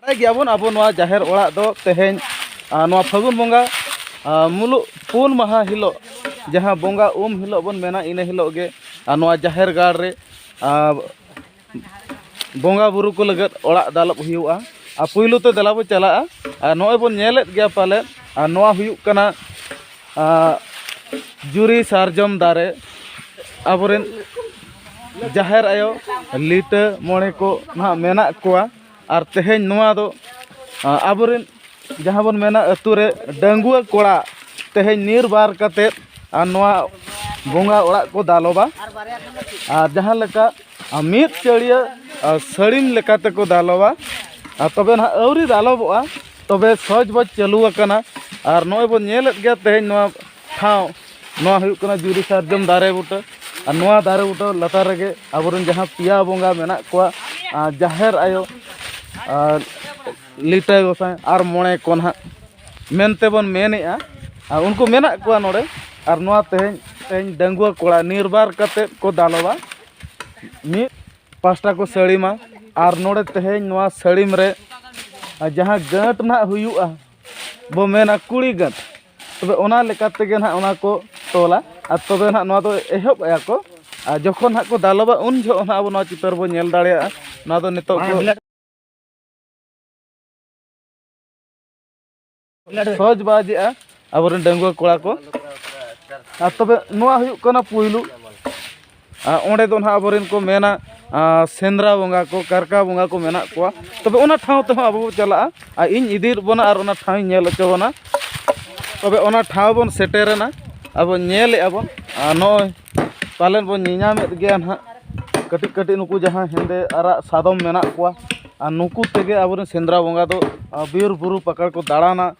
ᱵᱟᱲᱟᱭ ᱜᱮᱭᱟᱵᱚᱱ ᱟᱵᱚ ᱱᱚᱣᱟ ᱡᱟᱦᱮᱨ ᱚᱲᱟᱜ ᱫᱚ ᱛᱮᱦᱮᱧ ᱱᱚᱣᱟ ᱯᱷᱟᱹᱜᱩᱱ ᱵᱚᱸᱜᱟ ᱢᱩᱞᱩᱜ ᱯᱩᱱ ᱢᱟᱦᱟ ᱦᱤᱞᱳᱜ ᱡᱟᱦᱟᱸ ᱵᱚᱸᱜᱟ ᱩᱢ ᱦᱤᱞᱳᱜ ᱵᱚᱱ ᱢᱮᱱᱟ ᱤᱱᱟᱹ ᱦᱤᱞᱳᱜ ᱜᱮ ᱱᱚᱣᱟ ᱡᱟᱦᱮᱨ ᱜᱟᱲ ᱨᱮ ᱵᱚᱸᱜᱟ ᱵᱩᱨᱩ ᱠᱚ ᱞᱟᱹᱜᱤᱫ ᱚᱲᱟᱜ ᱫᱟᱞᱚᱵ ᱦᱩᱭᱩᱜᱼᱟ ᱟᱨ ᱯᱩᱭᱞᱩ ᱛᱮ ᱫᱮᱞᱟ ᱵᱚᱱ ᱪᱟᱞᱟᱜᱼᱟ ᱟᱨ ᱱᱚᱜᱼᱚᱭ ᱵᱚᱱ ᱧᱮᱞᱮᱫ ᱜᱮᱭᱟ ᱯᱟᱞᱮ ᱟᱨ ᱱᱚᱣᱟ ᱦᱩᱭᱩᱜ ᱠᱟᱱᱟ ᱡᱩᱨᱤ ᱥᱟᱨᱡᱚᱢ ᱫᱟᱨᱮ ᱟᱵᱚᱨᱮᱱ ᱡᱟᱦᱮᱨ ᱟᱭᱳ ᱞᱤᱴᱟᱹ ᱢᱚᱬᱮ ᱠᱚ ᱱᱟᱦᱟᱜ ᱢᱮᱱᱟᱜ ᱠᱚᱣᱟ ᱟᱨ ᱛᱮᱦᱮᱧ ᱱᱚᱣᱟ ᱫᱚ ᱟᱵᱚ ᱨᱮᱱ ᱡᱟᱦᱟᱸ ᱵᱚᱱ ᱢᱮᱱᱟ ᱟᱹᱛᱩ ᱨᱮ ᱰᱟᱺᱜᱩᱣᱟᱹ ᱠᱚᱲᱟ ᱛᱮᱦᱮᱧ ᱱᱤᱨᱵᱟᱨ ᱠᱟᱛᱮᱫ ᱟᱨ ᱱᱚᱣᱟ ᱵᱚᱸᱜᱟ ᱚᱲᱟᱜ ᱠᱚ ᱫᱟᱞᱚᱵᱟ ᱟᱨ ᱡᱟᱦᱟᱸ ᱞᱮᱠᱟ ᱢᱤᱫ ᱪᱟᱹᱲᱭᱟᱹ ᱥᱟᱹᱲᱤᱢ ᱞᱮᱠᱟ ᱛᱮᱠᱚ ᱫᱟᱞᱚᱵᱟ ᱟᱨ ᱛᱚᱵᱮ ᱱᱟᱦᱟᱜ ᱟᱹᱣᱨᱤ ᱫᱟᱞᱚᱵᱚᱜᱼᱟ ᱛᱚᱵᱮ ᱥᱚᱦᱚᱡᱽ ᱵᱚᱡᱽ ᱪᱟᱹᱞᱩ ᱟᱠᱟᱱᱟ ᱟᱨ ᱱᱚᱜᱼᱚᱭ ᱵᱚᱱ ᱧᱮᱞᱮᱫ ᱜᱮᱭᱟ ᱛᱮᱦᱮᱧ ᱱᱚᱣᱟ ᱴᱷᱟᱶ ᱱᱚᱣᱟ ᱦᱩᱭᱩᱜ ᱠᱟᱱᱟ ᱡᱩᱨᱤ ᱥᱟᱨᱡᱚᱢ ᱫᱟᱨᱮ ᱵᱩᱴᱟᱹ ᱟᱨ ᱱᱚᱣᱟ ᱫᱟᱨᱮ ᱵᱩᱴᱟᱹ ᱞᱟᱛᱟᱨ ᱨᱮᱜᱮ ᱟᱵᱚᱨᱮᱱ ᱡᱟᱦᱟᱸ ᱯᱮᱭᱟ ᱵᱚᱸᱜᱟ ᱢᱮᱱᱟᱜ ᱠᱚᱣᱟ ᱡᱟᱦᱮᱨ ᱟᱭᱳ ᱟᱨ ᱞᱤᱴᱟᱹ ᱜᱚᱸᱥᱟᱭ ᱟᱨ ᱢᱚᱬᱮ ᱠᱚ ᱱᱟᱦᱟᱜ ᱢᱮᱱᱛᱮ ᱵᱚᱱ ᱢᱮᱱᱮᱫᱼᱟ ᱟᱨ ᱩᱱᱠᱩ ᱢᱮᱱᱟᱜ ᱠᱚᱣᱟ ᱱᱚᱰᱮ ᱟᱨ ᱱᱚᱣᱟ ᱛᱮᱦᱮᱧ ᱛᱮᱦᱮᱧ ᱰᱟᱺᱜᱩᱣᱟᱹ ᱠᱚᱲᱟ ᱱᱤᱨᱵᱟᱨ ᱠᱟᱛᱮᱫ ᱠᱚ ᱫᱟᱞᱚᱵᱟ ᱢᱤᱫ ᱯᱟᱥᱴᱟ ᱠᱚ ᱥᱟᱹᱲᱤᱢᱟ ᱟᱨ ᱱᱚᱰᱮ ᱛᱮᱦᱮᱧ ᱱᱚᱣᱟ ᱥᱟᱹᱲᱤᱢ ᱨᱮ ᱡᱟᱦᱟᱸ ᱜᱟᱹᱴ ᱱᱟᱦᱟᱜ ᱦᱩᱭᱩᱜᱼᱟ ᱵᱚ ᱢᱮᱱᱟ ᱠᱩᱲᱤ ᱜᱟᱹᱫ ᱛᱚᱵᱮ ᱚᱱᱟ ᱞᱮᱠᱟ ᱛᱮᱜᱮ ᱱᱟᱦᱟᱜ ᱚᱱᱟ ᱠᱚ ᱛᱚᱞᱟ ᱟᱨ ᱛᱚᱵᱮ ᱱᱟᱦᱟᱜ ᱱᱚᱣᱟ ᱫᱚ ᱮᱦᱚᱵ ᱮᱫᱟ ᱠᱚ ᱟᱨ ᱡᱚᱠᱷᱚᱱ ᱱᱟᱦᱟᱜ ᱠᱚ ᱫᱟᱞᱚᱵᱟ ᱩᱱ ᱡᱚᱦᱚᱜ ᱱᱟᱦᱟᱜ ᱟᱵᱚ ᱱᱚᱣᱟ ᱪᱤᱛᱟᱹᱨ ᱵᱚᱱ ᱧᱮᱞ ᱫᱟᱲᱮᱭᱟᱜᱼᱟ ᱱᱚᱣᱟ ᱫᱚ ᱱᱤᱛᱚᱜ ᱠᱚ ᱥᱚᱦᱚᱡᱽ ᱵᱟᱡᱮᱜᱼᱟ ᱟᱵᱚᱨᱮᱱ ᱰᱟᱺᱜᱩᱣᱟᱹ ᱠᱚᱲᱟ ᱠᱚ ᱟᱨ ᱛᱚᱵᱮ ᱱᱚᱣᱟ ᱦᱩᱭᱩᱜ ᱠᱟᱱᱟ ᱯᱩᱭᱞᱩ ᱟᱨ ᱚᱸᱰᱮ ᱫᱚ ᱦᱟᱸᱜ ᱟᱵᱚ ᱨᱮᱱ ᱠᱚ ᱢᱮᱱᱟ ᱥᱮᱸᱫᱽᱨᱟ ᱵᱚᱸᱜᱟ ᱠᱚ ᱠᱟᱨᱠᱟ ᱵᱚᱸᱜᱟ ᱠᱚ ᱢᱮᱱᱟᱜ ᱠᱚᱣᱟ ᱛᱚᱵᱮ ᱚᱱᱟ ᱴᱷᱟᱶ ᱛᱮᱦᱚᱸ ᱟᱵᱚ ᱵᱚᱱ ᱪᱟᱞᱟᱜᱼᱟ ᱟᱨ ᱤᱧ ᱤᱫᱤᱭᱮᱫ ᱵᱚᱱᱟ ᱟᱨ ᱚᱱᱟ ᱴᱷᱟᱶ ᱤᱧ ᱧᱮᱞ ᱦᱚᱪᱚ ᱵᱚᱱᱟ ᱛᱚᱵᱮ ᱚᱱᱟ ᱴᱷᱟᱶ ᱵᱚᱱ ᱥᱮᱴᱮᱨᱮᱱᱟ ᱟᱵᱚ ᱧᱮᱞᱮᱫᱼᱟ ᱵᱚᱱ ᱟᱨ ᱱᱚᱜᱼᱚᱭ ᱯᱟᱞᱮᱱ ᱵᱚᱱ ᱧᱮᱞ ᱧᱟᱢᱮᱫ ᱜᱮᱭᱟ ᱦᱟᱸᱜ ᱠᱟᱹᱴᱤᱡ ᱠᱟᱹᱴᱤᱡ ᱱᱩᱠᱩ ᱡᱟᱦᱟᱸᱭ ᱦᱮᱸᱫᱮ ᱟᱨᱟᱜ ᱥᱟᱫᱚᱢ ᱢᱮᱱᱟᱜ ᱠᱚᱣᱟ ᱟᱨ ᱱᱩᱠᱩ ᱛᱮᱜᱮ ᱟᱵᱚ ᱨᱮᱱ ᱥᱮᱸᱫᱽᱨᱟ ᱵᱚᱸᱜᱟ ᱫᱚ ᱵᱤᱨᱼᱵᱩᱨᱩ ᱯᱟᱠᱟᱲ ᱠᱚ ᱫᱟᱬᱟᱱᱟ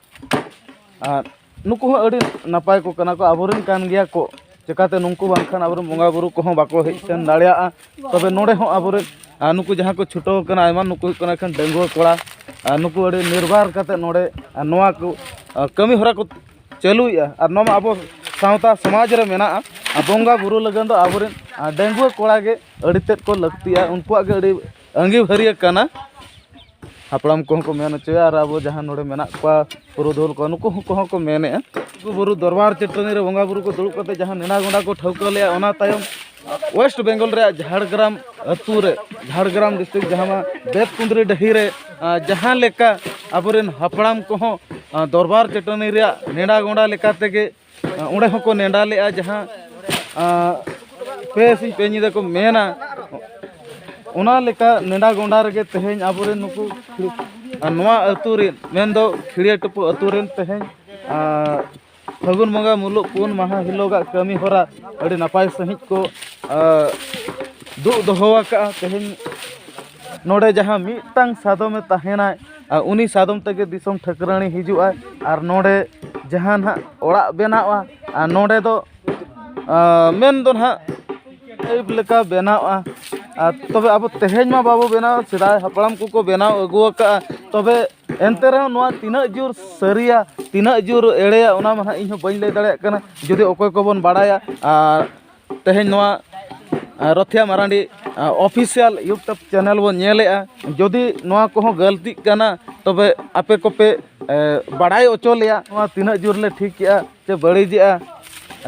ᱟᱨ ᱱᱩᱠᱩ ᱦᱚᱸ ᱟᱹᱰᱤ ᱱᱟᱯᱟᱭ ᱠᱚ ᱠᱟᱱᱟ ᱠᱚ ᱟᱵᱚᱨᱮᱱ ᱠᱟᱱ ᱜᱮᱭᱟ ᱠᱚ ᱪᱤᱠᱟᱹᱛᱮ ᱱᱩᱠᱩ ᱵᱟᱝᱠᱷᱟᱱ ᱟᱵᱚᱨᱮᱱ ᱵᱚᱸᱜᱟ ᱵᱩᱨᱩ ᱠᱚᱦᱚᱸ ᱵᱟᱠᱚ ᱦᱮᱡ ᱥᱮᱱ ᱫᱟᱲᱮᱭᱟᱜᱼᱟ ᱛᱚᱵᱮ ᱱᱚᱰᱮ ᱦᱚᱸ ᱟᱵᱚᱨᱮᱱ ᱟᱨ ᱱᱩᱠᱩ ᱡᱟᱦᱟᱸ ᱠᱚ ᱪᱷᱩᱴᱟᱹᱣ ᱠᱟᱱᱟ ᱟᱭᱢᱟ ᱱᱩᱠᱩ ᱦᱩᱭᱩᱜ ᱠᱟᱱᱟ ᱮᱠᱷᱮᱱ ᱰᱟᱺᱜᱩᱣᱟᱹ ᱠᱚᱲᱟ ᱟᱨ ᱱᱩᱠᱩ ᱟᱹᱰᱤ ᱱᱤᱨᱵᱟᱨ ᱠᱟᱛᱮᱫ ᱱᱚᱰᱮ ᱱᱚᱣᱟ ᱠᱚ ᱠᱟᱹᱢᱤ ᱦᱚᱨᱟ ᱠᱚ ᱪᱟᱹᱞᱩᱭᱮᱫᱼᱟ ᱟᱨ ᱱᱚᱣᱟ ᱢᱟ ᱟᱵᱚ ᱥᱟᱶᱛᱟ ᱥᱚᱢᱟᱡᱽ ᱨᱮ ᱢᱮᱱᱟᱜᱼᱟ ᱟᱨ ᱵᱚᱸᱜᱟ ᱵᱩᱨᱩ ᱞᱟᱹᱜᱤᱫ ᱫᱚ ᱟᱵᱚᱨᱮᱱ ᱰᱟᱺᱜᱩᱣᱟᱹ ᱠᱚᱲᱟ ᱜᱮ ᱟᱹᱰᱤ ᱛᱮᱫ ᱠᱚ ᱞᱟᱹᱠᱛᱤᱜᱼᱟ ᱩᱱᱠᱩᱣᱟᱜ ᱜᱮ ᱟᱹᱰᱤ ᱟᱺᱜᱤᱵᱷᱟᱹᱨᱤᱭᱟᱹ ᱠᱟᱱᱟ ᱦᱟᱯᱲᱟᱢ ᱠᱚᱦᱚᱸ ᱠᱚ ᱢᱮᱱ ᱦᱚᱪᱚᱭᱟ ᱟᱨ ᱟᱵᱚ ᱡᱟᱦᱟᱸ ᱱᱚᱰᱮ ᱢᱮᱱᱟᱜ ᱠᱚᱣᱟ ᱯᱩᱨᱩᱫᱷᱩᱞ ᱠᱚ ᱱᱩᱠᱩ ᱠᱚᱦᱚᱸ ᱠᱚ ᱢᱮᱱᱮᱫᱼᱟ ᱞᱩᱜᱩ ᱵᱩᱨᱩ ᱫᱚᱨᱵᱟᱨ ᱪᱟᱹᱴᱟᱹᱱᱤ ᱨᱮ ᱵᱚᱸᱜᱟ ᱵᱩᱨᱩ ᱠᱚ ᱫᱩᱲᱩᱵ ᱠᱟᱛᱮ ᱡᱟᱦᱟᱸ ᱱᱮᱰᱟ ᱜᱚᱸᱰᱟ ᱠᱚ ᱴᱷᱟᱹᱣᱠᱟᱹ ᱞᱮᱫᱼᱟ ᱚᱱᱟ ᱛᱟᱭᱚᱢ ᱳᱭᱮᱥᱴ ᱵᱮᱝᱜᱚᱞ ᱨᱮᱭᱟᱜ ᱡᱷᱟᱲᱜᱨᱟᱢ ᱟᱹᱛᱩ ᱨᱮ ᱡᱷᱟᱲᱜᱨᱟᱢ ᱰᱤᱥᱴᱨᱤᱠᱴ ᱡᱟᱦᱟᱸ ᱢᱟ ᱵᱮᱫ ᱠᱩᱸᱫᱽᱨᱤ ᱰᱟᱹᱦᱤ ᱨᱮ ᱡᱟᱦᱟᱸ ᱞᱮᱠᱟ ᱟᱵᱚᱨᱮᱱ ᱦᱟᱯᱲᱟᱢ ᱠᱚᱦᱚᱸ ᱫᱚᱨᱵᱟᱨ ᱪᱟᱹᱴᱟᱹᱱᱤ ᱨᱮᱭᱟᱜ ᱱᱮᱰᱟ ᱜᱚᱸᱰᱟ ᱞᱮᱠᱟ ᱛᱮᱜᱮ ᱚᱸᱰᱮ ᱦᱚᱸᱠᱚ ᱱᱮᱰᱟ ᱞᱮᱫᱼᱟ ᱡᱟᱦᱟᱸ ᱯᱮ ᱥᱤᱧ ᱯᱮ ᱧᱤᱫᱟᱹ ᱠᱚ ᱢᱮᱱᱟ ᱚᱱᱟ ᱞᱮᱠᱟ ᱱᱮᱰᱟ ᱜᱚᱸᱰᱟ ᱨᱮᱜᱮ ᱛᱮᱦᱮᱧ ᱟᱵᱚᱨᱮᱱ ᱱᱩᱠᱩ ᱱᱚᱣᱟ ᱟᱹᱛᱩ ᱨᱮᱱ ᱢᱮᱱᱫᱚ ᱠᱷᱤᱲᱤᱭᱟᱹ ᱴᱩᱯᱩ ᱟᱹᱛᱩ ᱨᱮᱱ ᱛᱮᱦᱮᱧ ᱯᱷᱟᱹᱜᱩᱱ ᱵᱚᱸᱜᱟ ᱢᱩᱞᱩᱜ ᱯᱩᱱ ᱢᱟᱦᱟ ᱦᱤᱞᱳᱜᱟᱜ ᱠᱟᱹᱢᱤ ᱦᱚᱨᱟ ᱟᱹᱰᱤ ᱱᱟᱯᱟᱭ ᱥᱟᱺᱦᱤᱡ ᱠᱚ ᱫᱩᱜ ᱫᱚᱦᱚ ᱟᱠᱟᱫᱼᱟ ᱛᱮᱦᱮᱧ ᱱᱚᱰᱮ ᱡᱟᱦᱟᱸ ᱢᱤᱫᱴᱟᱝ ᱥᱟᱫᱚᱢᱮ ᱛᱟᱦᱮᱱᱟᱭ ᱟᱨ ᱩᱱᱤ ᱥᱟᱫᱚᱢ ᱛᱮᱜᱮ ᱫᱤᱥᱚᱢ ᱴᱷᱟᱹᱠᱨᱟᱹᱱᱤ ᱦᱤᱡᱩᱜ ᱟᱭ ᱟᱨ ᱱᱚᱰᱮ ᱡᱟᱦᱟᱸ ᱱᱟᱦᱟᱜ ᱚᱲᱟᱜ ᱵᱮᱱᱟᱜᱼᱟ ᱟᱨ ᱱᱚᱰᱮ ᱫᱚ ᱢᱮᱱ ᱫᱚ ᱱᱟᱦᱟᱜ ᱟᱹᱭᱩᱵ ᱞᱮᱠᱟ ᱵᱮᱱᱟᱣᱜᱼᱟ ᱟᱨ ᱛᱚᱵᱮ ᱟᱵᱚ ᱛᱮᱦᱮᱧ ᱢᱟ ᱵᱟᱵᱚ ᱵᱮᱱᱟᱣ ᱥᱮᱫᱟᱭ ᱦᱟᱯᱲᱟᱢ ᱠᱚᱠᱚ ᱵᱮᱱᱟᱣ ᱟᱹᱜᱩ ᱟᱠᱟᱫᱼᱟ ᱛᱚᱵᱮ ᱮᱱᱛᱮ ᱨᱮᱦᱚᱸ ᱱᱚᱣᱟ ᱛᱤᱱᱟᱹᱜ ᱡᱳᱨ ᱥᱟᱹᱨᱤᱭᱟ ᱛᱤᱱᱟᱹᱜ ᱡᱳᱨ ᱮᱲᱮᱭᱟ ᱚᱱᱟ ᱢᱟ ᱱᱟᱦᱟᱜ ᱤᱧ ᱦᱚᱸ ᱵᱟᱹᱧ ᱞᱟᱹᱭ ᱫᱟᱲᱮᱭᱟᱜ ᱠᱟᱱᱟ ᱡᱩᱫᱤ ᱚᱠᱚᱭ ᱠᱚᱵᱚᱱ ᱵᱟᱲᱟᱭᱟ ᱟᱨ ᱛᱮᱦᱮᱧ ᱱᱚᱣᱟ ᱨᱚᱛᱷᱤᱭᱟ ᱢᱟᱨᱟᱱᱰᱤ ᱚᱯᱷᱤᱥᱤᱭᱟᱞ ᱤᱭᱩᱴᱩᱵᱽ ᱪᱮᱱᱮᱞ ᱵᱚᱱ ᱧᱮᱞᱮᱫᱼᱟ ᱡᱩᱫᱤ ᱱᱚᱣᱟ ᱠᱚᱦᱚᱸ ᱜᱟᱹᱞᱛᱤᱜ ᱠᱟᱱᱟ ᱛᱚᱵᱮ ᱟᱯᱮ ᱠᱚᱯᱮ ᱵᱟᱲᱟᱭ ᱦᱚᱪᱚ ᱞᱮᱭᱟ ᱱᱚᱣᱟ ᱛᱤᱱᱟᱹᱜ ᱡᱳᱨ ᱞᱮ ᱴᱷᱤᱠ ᱮᱫᱟ ᱥᱮ ᱵᱟᱹᱲᱤᱡᱮᱫᱼᱟ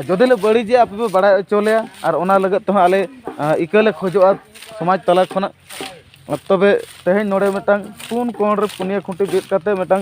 ᱡᱩᱫᱤ ᱞᱮ ᱵᱟᱹᱲᱤᱡᱮᱫᱼᱟ ᱟᱯᱮ ᱯᱮ ᱵᱟᱲᱟᱭ ᱦᱚᱪᱚ ᱞᱮᱭᱟ ᱟᱨ ᱚᱱᱟ ᱞᱟᱹᱜᱤᱫ ᱛᱮᱦᱚᱸ ᱟᱞᱮ ᱤᱠᱟᱹ ᱞᱮ ᱠᱷᱚᱡᱚᱜᱼᱟ ᱥᱚᱢᱟᱡᱽ ᱛᱟᱞᱟ ᱠᱷᱚᱱᱟᱜ ᱛᱚᱵᱮ ᱛᱮᱦᱮᱧ ᱱᱚᱰᱮ ᱢᱤᱫᱴᱟᱱ ᱯᱩᱱ ᱠᱚᱬ ᱨᱮ ᱯᱩᱱᱭᱟᱹ ᱠᱷᱩᱱᱴᱤ ᱵᱤᱫ ᱠᱟᱛᱮᱫ ᱢᱤᱫᱴᱟᱱ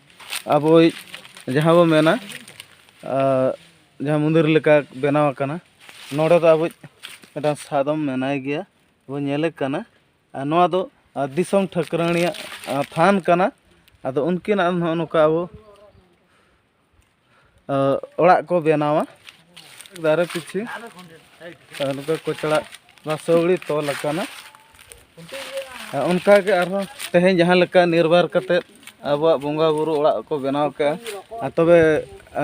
ᱟᱵᱚᱭᱤᱡ ᱡᱟᱦᱟᱸ ᱵᱚ ᱢᱮᱱᱟ ᱡᱟᱦᱟᱸ ᱢᱚᱱᱫᱤᱨ ᱞᱮᱠᱟ ᱵᱮᱱᱟᱣ ᱟᱠᱟᱱᱟ ᱱᱚᱰᱮ ᱫᱚ ᱟᱵᱚᱭᱤᱡ ᱢᱤᱫᱴᱟᱝ ᱥᱟᱫᱚᱢ ᱢᱮᱱᱟᱭ ᱜᱮᱭᱟ ᱵᱚ ᱧᱮᱞᱮ ᱠᱟᱱᱟ ᱟᱨ ᱱᱚᱣᱟ ᱫᱚ ᱫᱤᱥᱚᱢ ᱴᱷᱟᱹᱠᱨᱟᱹᱱᱤᱭᱟᱜ ᱛᱷᱟᱱ ᱠᱟᱱᱟ ᱟᱫᱚ ᱩᱱᱠᱤᱱᱟᱜ ᱱᱚᱜᱼᱚ ᱱᱚᱝᱠᱟ ᱟᱵᱚ ᱚᱲᱟᱜ ᱠᱚ ᱵᱮᱱᱟᱣᱟ ᱫᱟᱨᱮ ᱯᱤᱪᱷᱤ ᱱᱚᱝᱠᱟ ᱠᱚᱪᱲᱟᱜ ᱱᱚᱣᱟ ᱥᱟᱹᱣᱲᱤ ᱛᱚᱞ ᱟᱠᱟᱱᱟ ᱚᱱᱠᱟᱜᱮ ᱟᱨᱦᱚᱸ ᱛᱮᱦᱮᱧ ᱡᱟᱦᱟᱸ ᱞᱮᱠᱟ ᱱᱤᱨᱵᱟᱨ ᱠᱟᱛᱮᱫ ᱟᱵᱚᱣᱟᱜ ᱵᱚᱸᱜᱟᱼᱵᱩᱨᱩ ᱚᱲᱟᱜ ᱠᱚ ᱵᱮᱱᱟᱣ ᱠᱮᱜᱼᱟ ᱟᱨ ᱛᱚᱵᱮ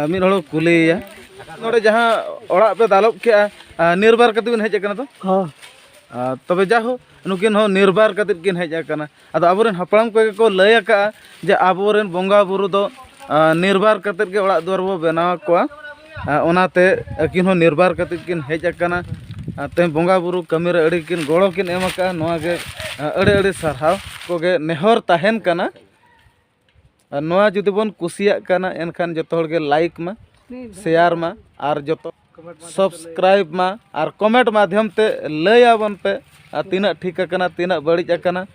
ᱢᱤᱫ ᱦᱚᱲ ᱠᱩᱞᱤᱭᱮᱭᱟ ᱱᱚᱰᱮ ᱡᱟᱦᱟᱸ ᱚᱲᱟᱜ ᱯᱮ ᱫᱟᱞᱚᱵ ᱠᱮᱜᱼᱟ ᱱᱤᱨᱵᱟᱨ ᱠᱟᱛᱮᱫ ᱵᱤᱱ ᱦᱮᱡ ᱟᱠᱟᱱᱟ ᱛᱚ ᱛᱚᱵᱮ ᱡᱟᱭᱦᱳᱠ ᱱᱩᱠᱤᱱ ᱦᱚᱸ ᱱᱤᱨᱵᱟᱨ ᱠᱟᱛᱮᱫ ᱠᱤᱱ ᱦᱮᱡ ᱟᱠᱟᱱᱟ ᱟᱫᱚ ᱟᱵᱚᱨᱮᱱ ᱦᱟᱯᱲᱟᱢ ᱠᱚᱜᱮ ᱠᱚ ᱞᱟᱹᱭ ᱟᱠᱟᱫᱼᱟ ᱡᱮ ᱟᱵᱚᱨᱮᱱ ᱵᱚᱸᱜᱟ ᱵᱩᱨᱩ ᱫᱚ ᱱᱤᱨᱵᱟᱨ ᱠᱟᱛᱮᱫ ᱜᱮ ᱚᱲᱟᱜ ᱫᱩᱣᱟᱹᱨ ᱵᱚᱱ ᱵᱮᱱᱟᱣ ᱟᱠᱚᱣᱟ ᱚᱱᱟᱛᱮ ᱟᱹᱠᱤᱱ ᱦᱚᱸ ᱱᱤᱨᱵᱟᱨ ᱠᱟᱛᱮᱫ ᱠᱤᱱ ᱦᱮᱡ ᱟᱠᱟᱱᱟ ᱛᱮᱦᱮᱧ ᱵᱚᱸᱜᱟ ᱵᱩᱨᱩ ᱠᱟᱹᱢᱤ ᱨᱮ ᱟᱹᱰᱤ ᱠᱤᱱ ᱜᱚᱲᱚ ᱠᱤᱱ ᱮᱢ ᱟᱠᱟᱫᱼᱟ ᱱᱚᱣᱟ ᱜᱮ ᱟᱹᱰᱤ ᱟᱹᱰᱤ ᱥᱟᱨᱦᱟᱣ ᱠᱚᱜᱮ ᱱᱮᱦᱚᱨ ᱛᱟᱦᱮᱱ ᱠᱟᱱᱟ ᱟᱨ ᱱᱚᱣᱟ ᱡᱩᱫᱤ ᱵᱚᱱ ᱠᱩᱥᱤᱭᱟᱜ ᱠᱟᱱᱟ ᱮᱱᱠᱷᱟᱱ ᱡᱚᱛᱚ ᱦᱚᱲ ᱜᱮ ᱞᱟᱭᱤᱠ ᱢᱟ ᱥᱮᱭᱟᱨ ᱢᱟ ᱟᱨ ᱡᱚᱛᱚ ᱥᱚᱵᱥᱠᱨᱟᱭᱤᱵᱽ ᱢᱟ ᱟᱨ ᱠᱚᱢᱮᱱᱴ ᱢᱟᱫᱽᱫᱷᱚᱢ ᱛᱮ ᱞᱟᱹᱭ ᱟᱵᱚᱱ ᱯᱮ ᱟᱨ ᱛᱤᱱᱟᱹᱜ ᱴᱷᱤᱠ ᱟᱠᱟᱱᱟ ᱛᱤᱱᱟᱹᱜ ᱵᱟᱹᱲᱤᱡ ᱟᱠᱟᱱᱟ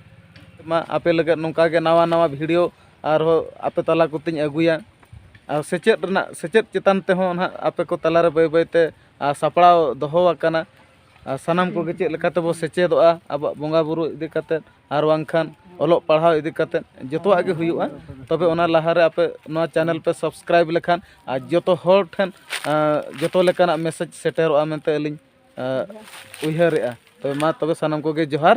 ᱢᱟ ᱟᱯᱮ ᱞᱟᱹᱜᱤᱫ ᱱᱚᱝᱠᱟ ᱜᱮ ᱱᱟᱣᱟ ᱱᱟᱣᱟ ᱵᱷᱤᱰᱤᱭᱳ ᱟᱨᱦᱚᱸ ᱟᱯᱮ ᱛᱟᱞᱟ ᱠᱚᱛᱮᱧ ᱟᱹᱜᱩᱭᱟ ᱟᱨ ᱥᱮᱪᱮᱫ ᱨᱮᱱᱟᱜ ᱥᱮᱪᱮᱫ ᱪᱮᱛᱟᱱ ᱛᱮᱦᱚᱸ ᱦᱟᱸᱜ ᱟᱯᱮ ᱠᱚ ᱛᱟᱞᱟ ᱨᱮ ᱵᱟᱹᱭ ᱵᱟᱹᱭ ᱛᱮ ᱥᱟᱯᱲᱟᱣ ᱫᱚᱦᱚ ᱟᱠᱟᱱᱟ ᱟᱨ ᱥᱟᱱᱟᱢ ᱠᱚᱜᱮ ᱪᱮᱫ ᱞᱮᱠᱟ ᱛᱮᱵᱚ ᱥᱮᱪᱮᱫᱚᱜᱼᱟ ᱟᱵᱚᱣᱟᱜ ᱵᱚᱸᱜᱟ ᱵᱳᱨᱳ ᱤᱫᱤ ᱠᱟᱛᱮᱫ ᱟᱨ ᱵᱟᱝᱠᱷᱟᱱ ᱚᱞᱚᱜ ᱯᱟᱲᱦᱟᱣ ᱤᱫᱤ ᱠᱟᱛᱮᱫ ᱡᱚᱛᱚᱣᱟᱜ ᱜᱮ ᱦᱩᱭᱩᱜᱼᱟ ᱛᱚᱵᱮ ᱚᱱᱟ ᱞᱟᱦᱟᱨᱮ ᱟᱯᱮ ᱱᱚᱣᱟ ᱪᱮᱱᱮᱞ ᱯᱮ ᱥᱟᱵᱥᱠᱨᱟᱭᱤᱵᱽ ᱞᱮᱠᱷᱟᱱ ᱟᱨ ᱡᱚᱛᱚ ᱦᱚᱲ ᱴᱷᱮᱱ ᱡᱚᱛᱚ ᱞᱮᱠᱟᱱᱟᱜ ᱢᱮᱥᱮᱡᱽ ᱥᱮᱴᱮᱨᱚᱜᱼᱟ ᱢᱮᱱᱛᱮ ᱟᱹᱞᱤᱧ ᱩᱭᱦᱟᱹᱨᱮᱜᱼᱟ ᱛᱚᱵᱮ ᱢᱟ ᱛᱚᱵᱮ ᱥᱟᱱᱟᱢ ᱠᱚᱜᱮ ᱡᱚᱦᱟᱨ